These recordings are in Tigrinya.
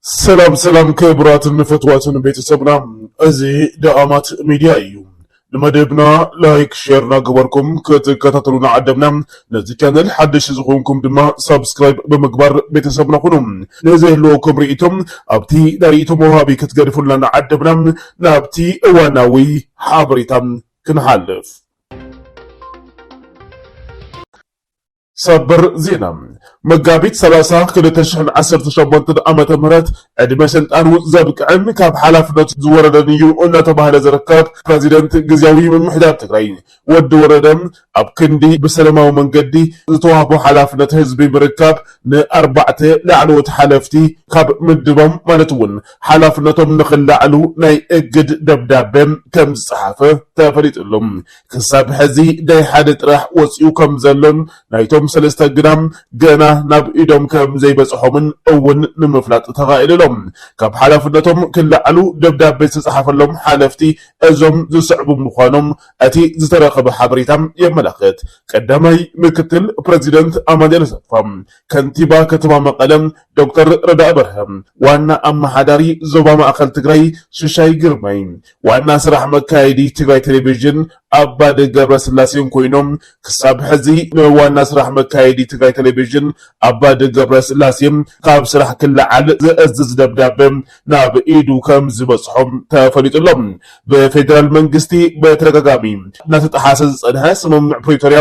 ሰላም ሰላም ክቡራትን ንፈትዋትን ቤተሰብና እዚ ደኣማት ሚድያ እዩ። ንመደብና ላይክ ሼር ናገበርኩም ክትከታተሉና ዓደምና። ነዚ ቻነል ሓደሽ ዝኾንኩም ድማ ሳብስክራይብ ብምግባር ቤተሰብና ኩኑ። ንዘህልወኩም ርእይቶም ኣብቲ ናይ ርእይቶ መውሃቢ ክትገድፉልና ንዓደምና። ናብቲ እዋናዊ ሓበሬታ ክንሓልፍ ሰበር ዜና መጋቢት 30 2017 ዓ ም ዕድመ ስልጣኑ ዘብቅዕን ካብ ሓላፍነቱ ዝወረደን እዩ እናተባህለ ዝርከብ ፕረዚደንት ግዜያዊ ምምሕዳር ትግራይ ወዲ ወረደ ኣብ ክንዲ ብሰለማዊ መንገዲ ዝተዋህቦ ሓላፍነት ህዝቢ ምርካብ ንኣርባዕተ ላዕለዎት ሓለፍቲ ካብ ምድባም ማለት እውን ሓላፍነቶም ንክላዕሉ ናይ እግድ ደብዳበ ከም ዝጸሓፈ ተፈሊጡ ኣሎ። ክሳብ ሕዚ ናይ ሓደ ጥራሕ ወጺኡ ከም ዘሎን ናይቶም ሰለስተ ግና ገና ናብ ኢዶም ከም ዘይበጽሖምን እውን ንምፍላጥ ተኻኢሉ ኣሎ። ካብ ሓላፍነቶም ክላዕሉ ደብዳበ ዝተጸሓፈሎም ሓለፍቲ እዞም ዝስዕቡ ምዃኖም እቲ ዝተረኸበ ሓበሬታ የመላኽት። ቀዳማይ ምክትል ፕረዚደንት ኣማኑኤል ኣሰፋ፣ ከንቲባ ከተማ መቐለ ዶክተር ረዳኢ በርሀ፣ ዋና ኣመሓዳሪ ዞባ ማእኸል ትግራይ ሽሻይ ግርማይ፣ ዋና ስራሕ መካየዲ ትግራይ ቴሌቪዥን ኣባዲ ገብረስላሴን ኮይኖም ክሳብ ሕዚ ንዋና ስራሕ መካየዲ ትግራይ ቴሌቪዥን ኣባዲ ገብረስላሴ ካብ ስራሕ ክለዓል ዘእዝዝ ደብዳበ ናብ ኢዱ ከም ዝበፅሖም ተፈሊጡ ኣሎ። ብፌዴራል መንግስቲ በተደጋጋሚ እናተጠሓሰ ዝፀንሐ ስምምዕ ፕሪቶርያ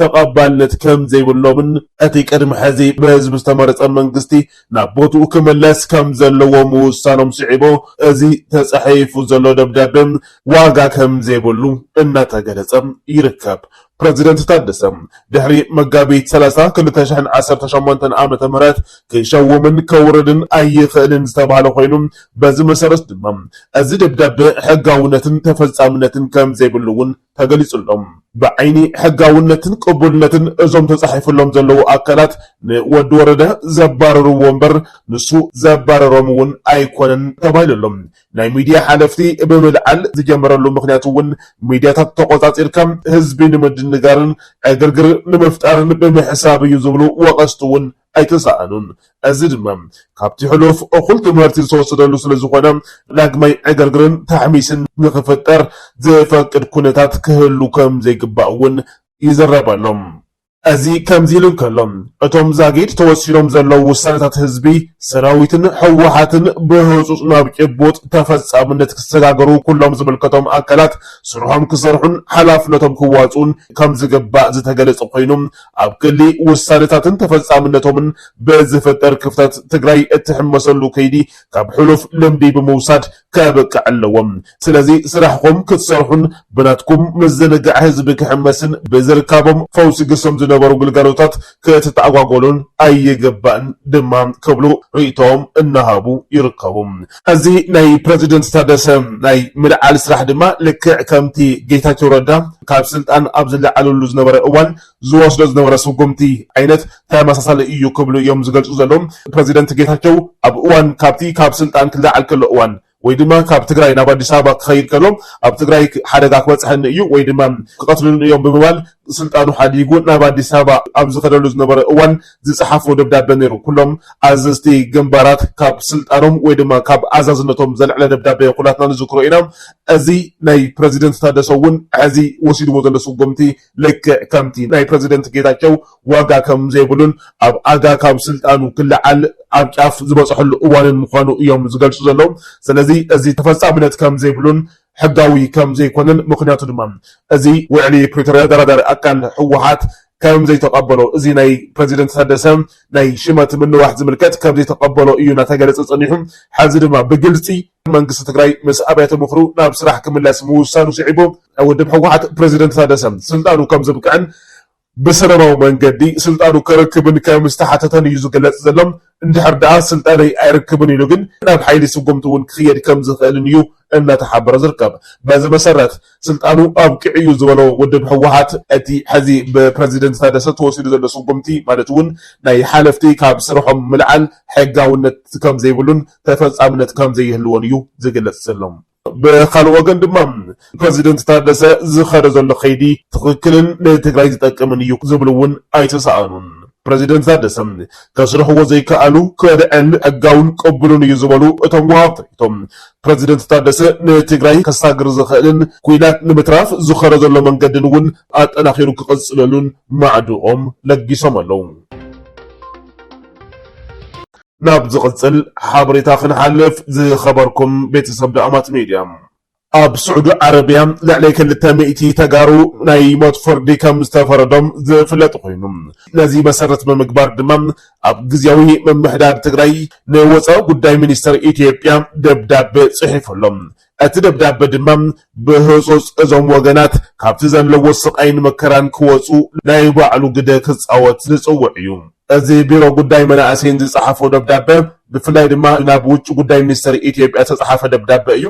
ተቐባልነት ከም ዘይብሎምን እቲ ቅድሚ ሕዚ ብህዝቢ ዝተመረጸ መንግስቲ ናብ ቦትኡ ክምለስ ከም ዘለዎ ምውሳኖም ስዒቡ እዚ ተጻሒፉ ዘሎ ደብዳበ ዋጋ ከም ዘይብሉ እናተገለጸ ይርከብ። ፕረዚደንት ታደሰ ድሕሪ መጋቢት ሰላሳ ክልተ ሽሕን ዓሰርተ ሸሞንተን ዓመተ ምህረት ክሸውምን ከውርድን ኣይኽእልን ዝተባህለ ኮይኑ በዚ መሰረት ድማ እዚ ደብዳበ ሕጋውነትን ተፈጻምነትን ከም ዘይብሉ እውን ተገሊፁሎም። ብዓይኒ ሕጋውነትን ቅቡልነትን እዞም ተፃሒፉሎም ዘለዉ ኣካላት ንወዲ ወረደ ዘባረርዎ እምበር ንሱ ዘባረሮም እውን ኣይኮነን ተባሂሉ ኣሎ። ናይ ሚዲያ ሓለፍቲ ብምልዓል ዝጀመረሉ ምኽንያት እውን ሚዲያታት ተቖፃፂርካ ህዝቢ ንምድንጋርን ዕግርግር ንምፍጣርን ብምሕሳብ እዩ ዝብሉ ወቐስቲ እውን ኣይተሳእኑን። እዚ ድማ ካብቲ ሕሉፍ እኹል ትምህርቲ ዝተወሰደሉ ስለ ዝኾነ ዳግማይ ዕግርግርን ታሕሚስን ንኽፍጠር ዝፈቅድ ኩነታት ክህሉ ከም ዘይግባእ እውን ይዝረበሎም። እዚ ከምዚ ኢሉ እንከሎ እቶም ዛጊድ ተወሲኖም ዘለዉ ውሳነታት ህዝቢ፣ ሰራዊትን ህወሓትን ብህፁፅ ናብ ጭቡጥ ተፈፃምነት ክሰጋገሩ ኩሎም ዝምልከቶም ኣካላት ስርሖም ክሰርሑን ሓላፍነቶም ክዋፅኡን ከም ዝግባእ ዝተገለፀ ኮይኑ ኣብ ክንዲ ውሳነታትን ተፈፃምነቶምን ብዝፍጠር ክፍተት ትግራይ እትሕመሰሉ ከይዲ ካብ ሕሉፍ ልምዲ ብምውሳድ ከብቅዕ ኣለዎ። ስለዚ ስራሕኹም ክትሰርሑን ብናትኩም ምዝንጋዕ ህዝቢ ክሕመስን ብዝርካቦም ፈውሲ ግሶም ዝነበሩ ግልጋሎታት ክትተኣጓጎሉን ኣይግባእን ድማ ክብሉ ሪኢቶኦም እናሃቡ ይርከቡ። እዚ ናይ ፕረዚደንት ታደሰ ናይ ምልዓል ስራሕ ድማ ልክዕ ከምቲ ጌታቸው ረዳ ካብ ስልጣን ኣብ ዝለዓለሉ ዝነበረ እዋን ዝወስዶ ዝነበረ ስጉምቲ ዓይነት ተመሳሳሊ እዩ ክብሉ እዮም ዝገልፁ ዘለዉ። ፕረዚደንት ጌታቸው ኣብ እዋን ካብቲ ካብ ስልጣን ክለዓል ከሎ እዋን ወይ ድማ ካብ ትግራይ ናብ ኣዲስ ኣበባ ክኸይድ ከሎ ኣብ ትግራይ ሓደጋ ክበፅሐኒ እዩ ወይ ድማ ክቐትሉኒ እዮም ብምባል ስልጣኑ ሓዲጉ ናብ ኣዲስ ኣበባ ኣብ ዝኸደሉ ዝነበረ እዋን ዝጸሓፎ ደብዳበ ነይሩ። ኩሎም ኣዘዝቲ ግንባራት ካብ ስልጣኖም ወይ ድማ ካብ ኣዛዝነቶም ዘልዕለ ደብዳበ ኩላትና ንዝክሮ ኢና። እዚ ናይ ፕረዚደንት ታደሰ እውን ሕዚ ወሲድዎ ዘሎ ስጉምቲ ልክዕ ከምቲ ናይ ፕረዚደንት ጌታቸው ዋጋ ከም ዘይብሉን ኣብ ኣጋ ካብ ስልጣኑ ክለዓል ኣብ ጫፍ ዝበጸሐሉ እዋንን ምዃኑ እዮም ዝገልጹ ዘለዉ። ስለዚ እዚ ተፈጻምነት ከም ዘይብሉን ሕጋዊ ከም ዘይኮነን ምኽንያቱ ድማ እዚ ውዕሊ ፕሪቶርያ ኣደራዳሪ ኣካል ህወሓት ከም ዘይተቐበሎ እዚ ናይ ፕረዚደንት ታደሰ ናይ ሽመት ምንዋሕ ዝምልከት ከም ዘይተቐበሎ እዩ እናተገለፀ ፀኒሑ። ሐዚ ድማ ብግልፂ መንግስቲ ትግራይ ምስ ኣብያተ ምኽሩ ናብ ስራሕ ክምለስ ምውሳኑ ስዒቡ ውድብ ህወሓት ፕረዚደንት ታደሰ ስልጣኑ ከም ዘብቅዕን ብሰለማዊ መንገዲ ስልጣኑ ከረክብን ከም ዝተሓተተን እዩ ዝግለፅ ዘሎ። እንድሕር ደኣ ስልጣነይ ኣይርክብን ኢሉ ግን ናብ ሓይሊ ስጉምቲ እውን ክኽየድ ከም ዝኽእልን እዩ እናተሓበረ ዝርከብ። በዚ መሰረት ስልጣኑ ኣብቂዑ እዩ ዝበሎ ውድብ ህወሓት፣ እቲ ሕዚ ብፕረዚደንት ታደሰ ተወሲዱ ዘሎ ስጉምቲ ማለት እውን ናይ ሓለፍቲ ካብ ስርሖም ምልዓል ሕጋውነት ከም ዘይብሉን ተፈፃምነት ከም ዘይህልዎን እዩ ዝግለፅ ዘሎ። ብኻልእ ወገን ድማ ፕረዚደንት ታደሰ ዝኸዶ ዘሎ ከይዲ ትኽክልን ንትግራይ ዝጠቅምን እዩ ዝብሉ እውን ኣይተሰኣኑን። ፕረዚደንት ታደሰ ከስርሕዎ ዘይከኣሉ ከድዐን ሕጋውን ቅቡልን እዩ ዝበሉ እቶም ወሃብቲ ርእይቶ፣ ፕረዚደንት ታደሰ ንትግራይ ከሳግር ዝኽእልን ኲናት ንምትራፍ ዝኸዶ ዘሎ መንገድን እውን ኣጠናኺሩ ክቕፅለሉን ማዕድኦም ለጊሶም ኣለው። ናብ ዝቕጽል ሓበሬታ ክንሓልፍ ዝኸበርኩም ቤተሰብ ዳእማት ሚድያ። ኣብ ስዑዲ ዓረብያ ልዕሊ ክልተ ሚእቲ ተጋሩ ናይ ሞት ፍርዲ ከም ዝተፈረዶም ዝፍለጥ ኮይኑ ነዚ መሰረት ብምግባር ድማ ኣብ ግዝያዊ ምምሕዳር ትግራይ ንወፃኢ ጉዳይ ሚኒስተር ኢትዮጵያ ደብዳቤ ፅሒፉሎም እቲ ደብዳበ ድማ ብህጹጽ እዞም ወገናት ካብቲ ዘለዎ ስቓይን መከራን ክወጹ ናይ ባዕሉ ግደ ክጻወት ዝጽውዕ እዩ። እዚ ቢሮ ጉዳይ መናእሰይን ዝጸሓፎ ደብዳበ ብፍላይ ድማ ናብ ውጭ ጉዳይ ሚኒስተር ኢትዮጵያ ዝተጸሓፈ ደብዳበ እዩ።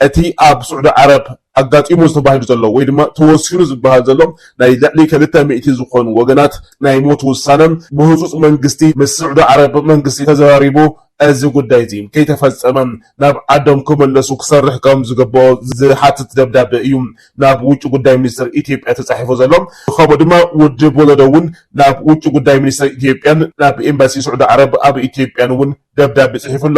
እቲ ኣብ ስዑዲ ዓረብ ኣጋጢሙ ተባሂሉ ዘሎ ወይ ድማ ተወሲኑ ዝበሃል ዘሎ ናይ ልዕሊ ክልተ ሚእቲ ዝኾኑ ወገናት ናይ ሞት ውሳነ ብህጹጽ መንግስቲ ምስ ስዑዲ ዓረብ መንግስቲ ተዘራሪቡ እዚ ጉዳይ'ዚ ከይተፈጸመ ናብ ዓዶም ክምለሱ ክሰርሕ ከም ዝግበኦ ዝሓትት ደብዳበ እዩ ናብ ውጪ ጉዳይ ሚኒስተር ኢትዮጵያ ተጻሒፉ ዘሎ። ብኸምኡ ድማ ውድብ ወለዶ'ውን ናብ ውጪ ጉዳይ ሚኒስተር ኢትዮጵያን ናብ ኤምባሲ ስዑዲ ዓረብ ኣብ ኢትዮጵያን'ውን ደብዳበ ጽሒፉ ኣሎ።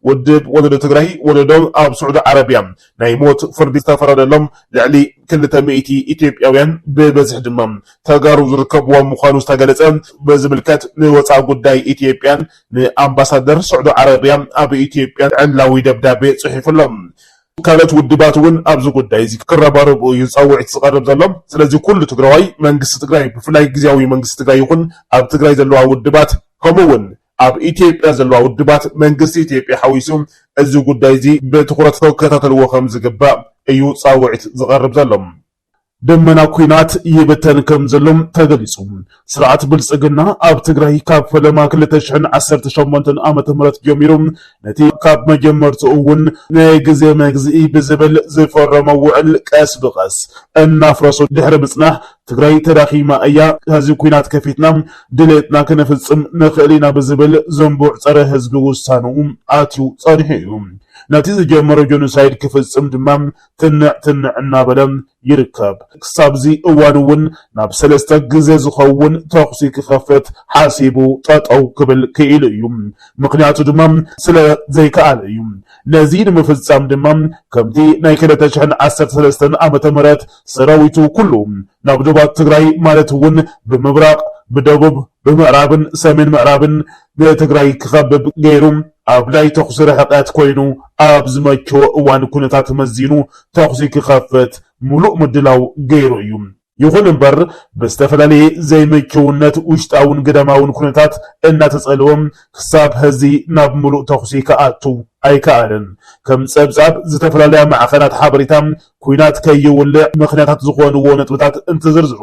ውድብ ወለዶ ትግራይ፣ ወለዶ ኣብ ስዑዲ ዓረብያ ናይ ሞት ፍርዲ ዝተፈረደሎም ልዕሊ ክልተ ሚእቲ ኢትዮጵያውያን ብበዝሒ ድማ ተጋሩ ዝርከብዎም ምዃኑ ዝተገለጸ ብዝምልከት ንወጻኢ ጉዳይ ኢትዮጵያን ንኣምባሳደር ስዑዲ ዓረብያ ኣብ ኢትዮጵያ ዕላዊ ደብዳቤ ጽሒፉ ኣሎ። ካልኦት ውድባት እውን ኣብዚ ጉዳይ እዚ ክረባረቡ እዩ ጻውዒት ዝቐርብ ዘሎ። ስለዚ ኩሉ ትግራዋይ፣ መንግስቲ ትግራይ፣ ብፍላይ ግዝያዊ መንግስቲ ትግራይ ይኹን ኣብ ትግራይ ዘለዋ ውድባት ከምኡ እውን ኣብ ኢትዮጵያ ዘለዋ ውድባት መንግስቲ ኢትዮጵያ ሓዊሱ እዚ ጉዳይ እዚ ብትኹረት ክከታተልዎ ከምዝግባእ እዩ ጻውዒት ዝቐርብ ዘሎ። ደመና ኲናት ይብተን ከምዘሎ ተገሊፁ። ስርዓት ብልፅግና ኣብ ትግራይ ካብ ፈለማ ክልተ ሽሕን ዓሰርተ ሸሞንተን ዓመተ ምህረት ጀሚሩ ነቲ ካብ መጀመርትኡ እውን ናይ ግዜ መግዝኢ ብዝብል ዝፈረሞ ውዕል ቀስ ብቐስ እናፍረሶ ድሕሪ ምፅናሕ ትግራይ ተዳኺማ እያ፣ ሕዚ ኲናት ከፊትና ድሌትና ክንፍፅም ንኽእል ኢና ብዝብል ዝንቡዕ ፀረ ህዝቢ ውሳንኡ ኣትዩ ፀኒሑ እዩ። ነቲ ዝጀመሮ ጆኖሳይድ ክፍፅም ድማ ትንዕ ትንዕ እናበለ ይርከብ። ክሳብ'ዚ እዋን'ውን ናብ ሰለስተ ግዘ ዝኸውን ተኹሲ ክኸፍት ሓሲቡ ጠጠው ክብል ክኢሉ እዩ። ምኽንያቱ ድማ ስለ ዘይከኣለ እዩ። ነዚ ንምፍፃም ድማ ከምቲ ናይ ክልተ ሽሕን ዓሰርተ ሰለስተን ዓመተ ምህረት ሰራዊቱ ኩሉ ናብ ዶባት ትግራይ ማለት'ውን ብምብራቕ፣ ብደቡብ፣ ብምዕራብን ሰሜን ምዕራብን ንትግራይ ክኸብብ ገይሩ ኣብ ናይ ተኹሲ ርሕቐት ኮይኑ ኣብ ዝመቸዎ እዋን ኩነታት መዚኑ ተኹሲ ክኸፍት ሙሉእ ምድላው ገይሩ እዩ። ይኹን እምበር ብዝተፈላለየ ዘይምችውነት ውሽጣውን ግዳማውን ኩነታት እናተፀልወ ክሳብ ሀዚ ናብ ሙሉእ ተኹሲ ክኣቱ ኣይከኣለን። ከም ፀብፃብ ዝተፈላለያ ማዕኸናት ሓበሬታ ኲናት ከይውልዕ ምኽንያታት ዝኾንዎ ነጥብታት እንትዝርዝሩ፣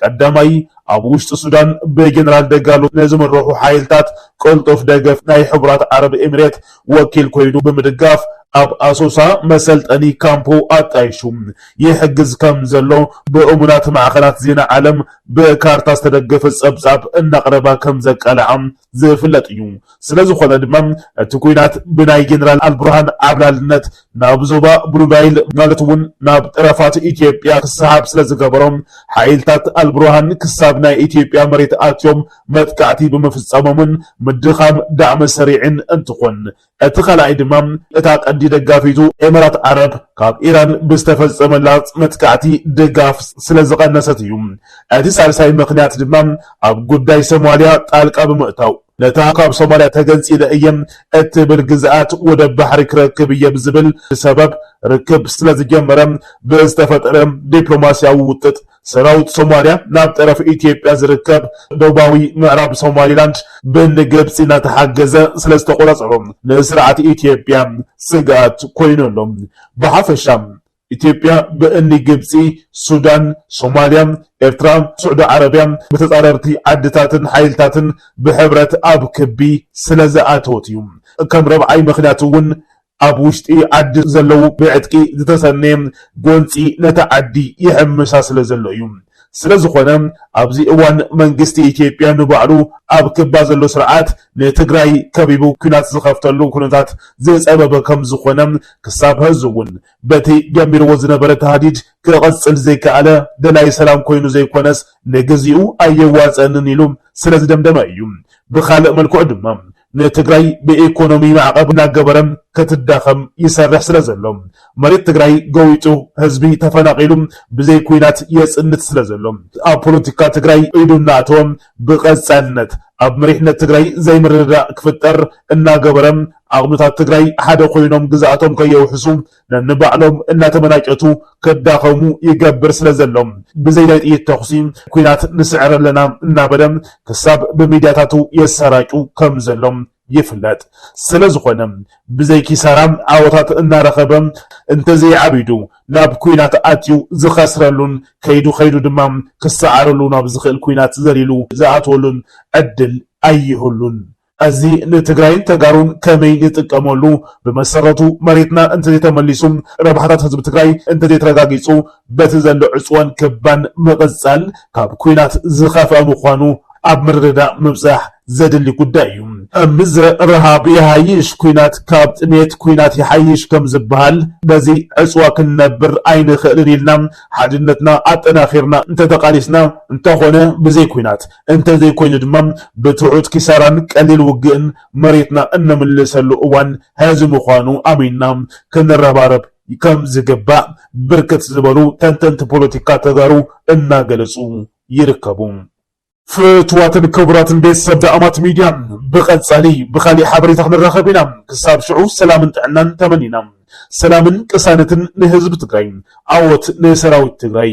ቀዳማይ፣ ኣብ ውሽጢ ሱዳን ብጀነራል ደጋሎ ንዝምርሑ ሓይልታት ቅልጡፍ ደገፍ ናይ ሕቡራት ዓረብ ኤሚሬት ወኪል ኮይኑ ብምድጋፍ፣ ኣብ ኣሶሳ መሰልጠኒ ካምፑ ኣጣይሹ ይሕግዝ ከምዘሎ ብእሙናት ማዕኸናት ዜና ዓለም ብካርታ ዝተደገፈ ጸብጻብ እናቕረባ ከምዘቃልዓ ዝፍለጥ እዩ። ስለዝኾነ ድማ እቲ ኩናት ብናይ ጀነራል ኣልቡርሃን ዓብላልነት ናብ ዞባ ብሉናይል ማለት እውን ናብ ጠረፋት ኢትዮጵያ ክሰሓብ ስለዝገበሮ ሓይልታት ኣልቡርሃን ክሳብ ናይ ኢትዮጵያ መሬት ኣትዮም መጥቃዕቲ ብምፍፃሞምን ምድኻም ዳዕመ-ሰሪዕን እንትኾን እቲ ካልኣይ ድማ እታ ቀንዲ ደጋፊቱ ኤመራት ዓረብ ካብ ኢራን ብዝተፈጸመላ መጥቃዕቲ ድጋፍ ስለዝቐነሰት እዩ። እቲ ሳልሳይ ምኽንያት ድማ ኣብ ጉዳይ ሶማልያ ጣልቃ ብምእታው ነታ ካብ ሶማልያ ተገንጺለ እየ እትብል ግዝኣት ወደብ ባሕሪ ክረክብ እየ ብዝብል ሰበብ ርክብ ስለዝጀመረ ብዝተፈጠረ ዲፕሎማስያዊ ውጥጥ ሰራዊት ሶማልያ ናብ ጠረፍ ኢትዮጵያ ዝርከብ ደቡባዊ ምዕራብ ሶማሊላንድ ብንግብፂ እናተሓገዘ ስለዝተቆፃፀሮ ንስርዓት ኢትዮጵያ ስግኣት ኮይኑ ኣሎ። ብሓፈሻ ኢትዮጵያ ብእኒ ግብፂ፣ ሱዳን፣ ሶማልያ፣ ኤርትራ፣ ስዑዲ ዓረብያ፣ ብተፃረርቲ ዓድታትን ሓይልታትን ብሕብረት ኣብ ክቢ ስለዝኣተወት እዩ። ከም ረብዓይ ምኽንያት እውን ኣብ ውሽጢ ዓዲ ዘለዉ ብዕጥቂ ዝተሰነየ ጎንፂ ነታ ዓዲ ይሕምሳ ስለዘሎ እዩ። ስለዝኾነ ኣብዚ እዋን መንግስቲ ኢትዮጵያ ንባዕሉ ኣብ ክባ ዘሎ ስርዓት ንትግራይ ከቢቡ ኲናት ዝኸፍተሉ ኩነታት ዝፀበበ ከምዝኾነ ክሳብ ሀዚ እውን በቲ ጀሚርዎ ዝነበረ ታህዲድ ክቕፅል ዘይከኣለ ደላይ ሰላም ኮይኑ ዘይኮነስ ንግዚኡ ኣየዋፀእንን ኢሉ ስለዝደምደመ እዩ። ብኻልእ መልክዑ ድማ ንትግራይ ብኢኮኖሚ ማዕቐብ እናገበረ ክትዳኸም ይሰርሕ ስለዘሎ፣ መሬት ትግራይ ገዊጡ ህዝቢ ተፈናቒሉ ብዘይ ኲናት የፅንት ስለዘሎ፣ ኣብ ፖለቲካ ትግራይ ኢዱ እናኣተወ ብቐፃልነት ኣብ መሪሕነት ትግራይ ዘይምርድዳእ ክፍጠር እናገበረ ዓቕምታት ትግራይ ሓደ ኮይኖም ግዝኣቶም ከየውሕሱ ነንባዕሎም እናተመናጨቱ ከዳኸሙ ይገብር ስለ ዘሎ ብዘይ ናይ ጥይት ተኹሲ ኲናት ንስዕር ኣለና እናበለ ክሳብ ብሚድያታቱ የሰራጩ ከም ዘሎ ይፍለጥ። ስለ ዝኾነ ብዘይ ኪሳራ ዓወታት እናረኸበ እንተዘይዓቢዱ ናብ ኲናት ኣትዩ ዝኸስረሉን ከይዱ ከይዱ ድማ ክሰዓረሉ ናብ ዝኽእል ኲናት ዘሊሉ ዝኣትወሉን ዕድል ኣይህሉን። እዚ ንትግራይን ተጋሩን ከመይ ንጥቀመሉ? ብመሰረቱ መሬትና እንተዘይተመሊሱ፣ ረብሓታት ህዝቢ ትግራይ እንተዘይተረጋጊፁ በቲ ዘሎ ዕፅዋን ክባን ምቕፃል ካብ ኲናት ዝኸፍኣ ምዃኑ ኣብ ምርድዳእ ምብፃሕ ዘድሊ ጉዳይ እዩ። ኣብ ምድረ ረሃብ ይሓይሽ ኲናት ካብ ጥሜት ኲናት ይሓይሽ ከምዝበሃል በዚ ዕፅዋ ክንነብር ኣይንኽእልን ኢልና ሓድነትና ኣጠናኺርና እንተተቓሊስና እንተኾነ ብዘይ ኲናት እንተዘይኮይኑ ድማ ብትሑት ኪሳራን ቀሊል ውግእን መሬትና እነምልሰሉ እዋን ሐዚ ምዃኑ ኣሚንና ክንረባረብ ከምዝግባእ ብርክት ዝበሉ ተንተንቲ ፖለቲካ ተጋሩ እናገለፁ ይርከቡ። ፍትዋትን ክቡራትን ቤተሰብ ዳእማት ሚድያ ብቐፃሊ ብኻሊእ ሓበሬታ ክንራኸብ ኢና። ክሳብ ሽዑ ሰላምን ጥዕናን ተመኒና ሰላምን ቅሳነትን ንህዝቢ ትግራይ፣ ዓወት ንሰራዊት ትግራይ!